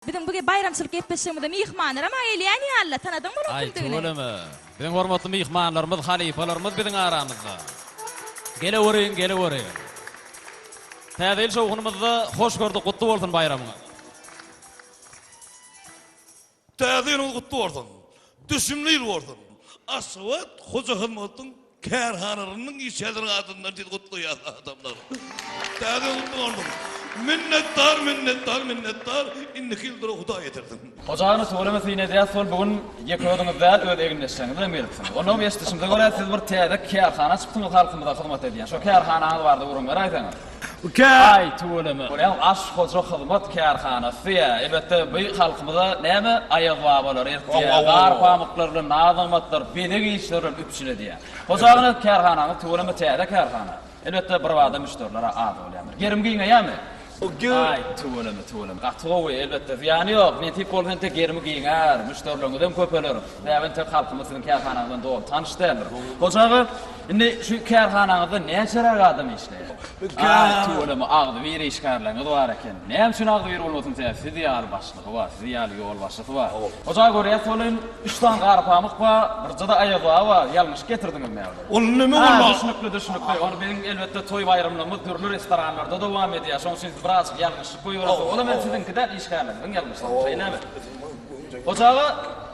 Biziň bu baýramçylyk gepleşigimize myhmanlaram gelýän ýaly-la, tanadyň boluň kimdigini? Aý, tüweleme. Biziň hormatly myhmanlarymyz, halypalarymyz biziň aramyzda. Geleweriň, geleweriň. Täze ýyl şowhunymyzda hoş gördük, gutly bolsun baýramyňyz. Täze ýylyňyz gutly bolsun. Düşümli ýyl bolsun. Aşgabat, Hoja Hyzmatdyň Kärhananyň işgärleri adyndan sizi gutlaýarys adamlar. Täze gutly bolsun. Minnetdar minnetdar minnetdar indiki ýyldyra hudaý ýetirsin. Hoja aga Nurtgülüňi syn edýäs hol bu gün ýeke özüňiz däl öz egindeşleriňiz bilen gelipsiňiz. Onam eşdişimize görä siz bir täze kärhana açypsyňyz halkymyza hyzmat edýän şo kärhanaňyz barada gürrüň beräýseňiz. Aý, tüweleme. Bolýam Aş Hoja Hyzmat kärhanasy ýa, elbetde, bu halkymyza näme Aýaz babalar eltýä, gar pamyklar bilen naz-nygmatlar, bezeg işleri bilen üpjün edýä. Hoja agany kärhanaňyz tüweleme täze kärhana. Elbetde, birbada müşderiler-ä az bolýandyr. Gerim giňeýämi? Aý, tüweleme, tüweleme. Gaty gowy, elbetde, zyýany ýok. Nesip bolsa entek gerimi giňär, müşderilerňizem köpeler. Bäbem tek halkymyz siziň kärhanaňyz bilen doly tanyş däldir. Hoja aga. Indi şu kärhanaňyzda näçeräk adam işleýär? Aý, tüweleme, agzybir işgärleriňiz bar eken. Näme üçin agzybir bolmasyn, sebäbi siz ýaly başlygy bar, siz ýaly ýolbaşçysy bar. Hojaý, görýäs, welin, üç sany gara pamyk bar, birje-de Aýaz baba bar. Ýalňyşyp getirdiňiz näme? Ol näme bolýar? Hä, düşnükli, düşnükli. Ol biziň, elbetde, toý-baýramlarymyz dürli restoranlarda dowam edýär. Şonuň üçin siz birazajyk ýalňyşyp goýberipsiňiz. Ol hem siziňki däl, işgärleriňiziň ýalňyşygy, şeýlemi? Hoja aga,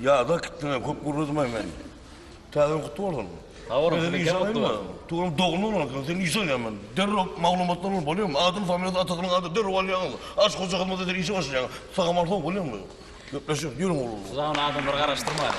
Ýada gitdiňä köp gürledemay men. Täze wagt boldum. Habarym size kem wagt boldy. Tuwelem dogumly bolanokyn sen işe alýan men. Derrew maglumatlar bolup bolýamy? Adyny familiýasy atasynyň adyny derrew alýaňyz. Aç hoja hyzmat eder işe başlaýaňyz. Sagamar sow bolýamy? Gepleşek ýörüň oglanlar. Siz aňry adamlary garaşdyrmaýyň.